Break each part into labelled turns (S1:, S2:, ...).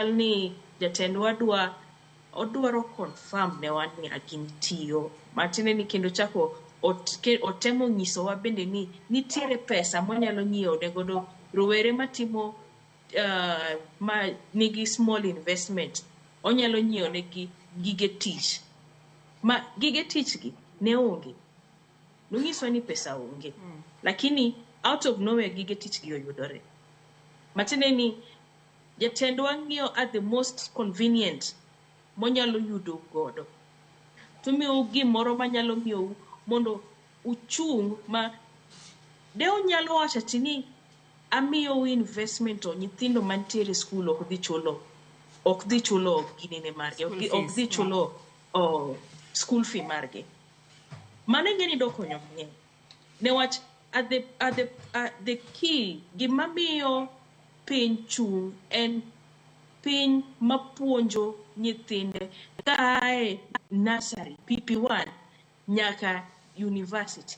S1: Chal ni jatendwa dwa odwaro confirm newa ni agin tiyo matiende ni kendo chako ot, ke, otemo nyisowa bende ni nitiere pesa mwanyalo nyiewo ne godo rowere matimo uh, ma nigi small investment onyalo nyiewo negi gige tich ma gige tich gi ne onge nonyiswa ni pesa onge mm. lakini out of nowhere gige tich gi oyudore matiende ni Jatendwa ng'iyo a the most convenient monyalo yudo godo to miyo gimoro manyalo miyo mondo uchung ma de unyalo wacho ati ni amiyo investment to nyithindo mantiere skul ok dhi chulo ok dhi chulo ginene margi ok dhi- ok dhi chulo oh, school fee margi mano ing'e ni dokonyo mang'eny Newach a the, a the, a the key gima miyo piny chung' en piny mapuonjo nyithinde kaae nursery, PP1 nyaka university.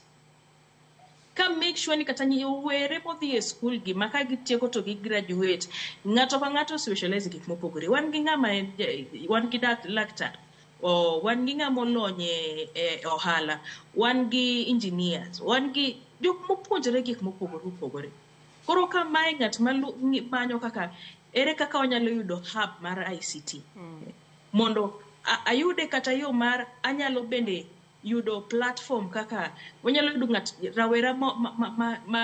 S1: Ka make sure ni kata nyowere modhi e skul gi ma ka gitieko to gi graduate, ng'ato ka ng'ato specialize e gik mopogore. Wan gi ng'ama en, wan gi dak, laktar oh, wan gi ng'ama olony e, e ohala wan gi engineers wan gi jok mopuonjore gik mopogore opogore koro ka mae ng'at manyo kaka ere kaka onyalo yudo hub mar ict hmm. mondo ayude kata yo mar anyalo bende yudo platform kaka wanyalo yudo ng'at rawera ma, ma, ma, ma, ma,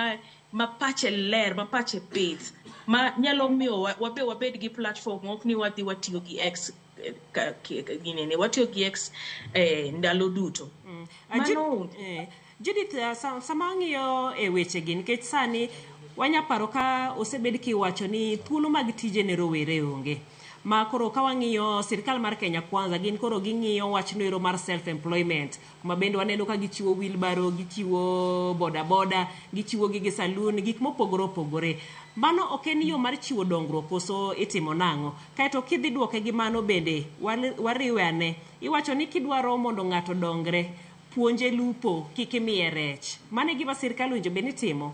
S1: ma pache ler ma pache pith ma nyalo miyo wa- wabe wabed gi platform ok ni wadhi watiyo gi x eh, ka- ki- ka- ginene watiyo gi x eh, ndalo duto Ah, Ju- mano onge eh,
S2: Judith, ah, sa- sama ang'iyo e wechegi nikech sani wanya paro ka osebed kiwacho ni thuolo mag tije ne rowere onge. ma koro ka wang'iyo sirkal mar Kenya Kwanza gin koro ging'iyo wach noero mar self employment kuma bende waneno ka gichiwo wheelbarrow, gichiwo boda boda, gichiwo gige saloon, gik mopogore opogore. Mano ok en yo mar chiwo dongruok koso itimo nang'o? Kaeto kidhi duoke gi mano bende wariwe ane, iwacho ni kidwaro mondo ng'ato odongre, puonje lupo kik imiye rech. Mano e gima sirkal owinjo bed ni timo?